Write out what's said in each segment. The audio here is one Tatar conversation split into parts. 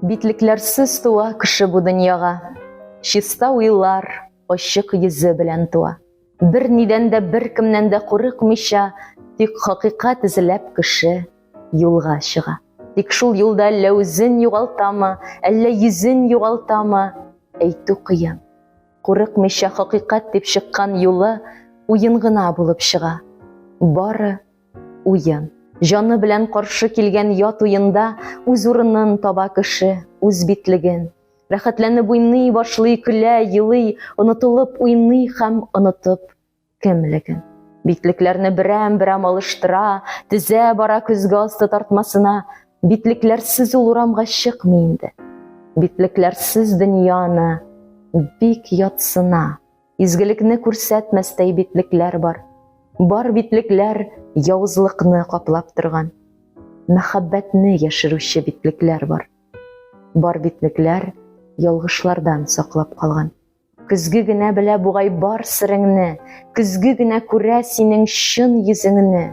Битлекләрсез туа кеше бу дөньяга, Чиста уйлар, ачык йөзе белән туа. Бер нидән дә, бер кемнән дә курыкмыйча, тик хакыйкать эзләп кеше юлга чыга. Тик шул юлда әллә үзен югалтамы, әллә йөзен югалтамы, әйтү кыен. Курыкмыйча хакыйкать дип чыккан юлы уен гына булып чыга. Бары уен. Җаны белән каршы килгән ят уенда үз урынын таба кеше, үз битлеген, Рәхәтләнеп уйный башлый, көлә, елый, онытылып уйный һәм онытып кемлеген. Битлекләрне берәм-берәм алыштыра, тезә бара көзге асты тартмасына. Битлекләрсез ул урамга чыкмый инде. Битлекләрсез дөньяны бик ятсына. Изгелекне күрсәтмәстәй битлекләр бар. Бар битлекләр явызлыкны каплап торган. Мәхәббәтне яшерүче битлекләр бар. Бар битлекләр ялгышлардан саклап калган. Көзге генә белә бугай бар сиреңне, көзге генә күрә синең чын йөзеңне.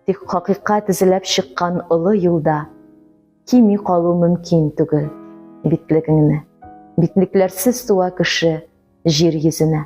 Тик хакыйкать эзләп чыккан олы юлда кими калу мөмкин түгел битлегеңне. Битлекләрсез туа кеше җир йөзенә.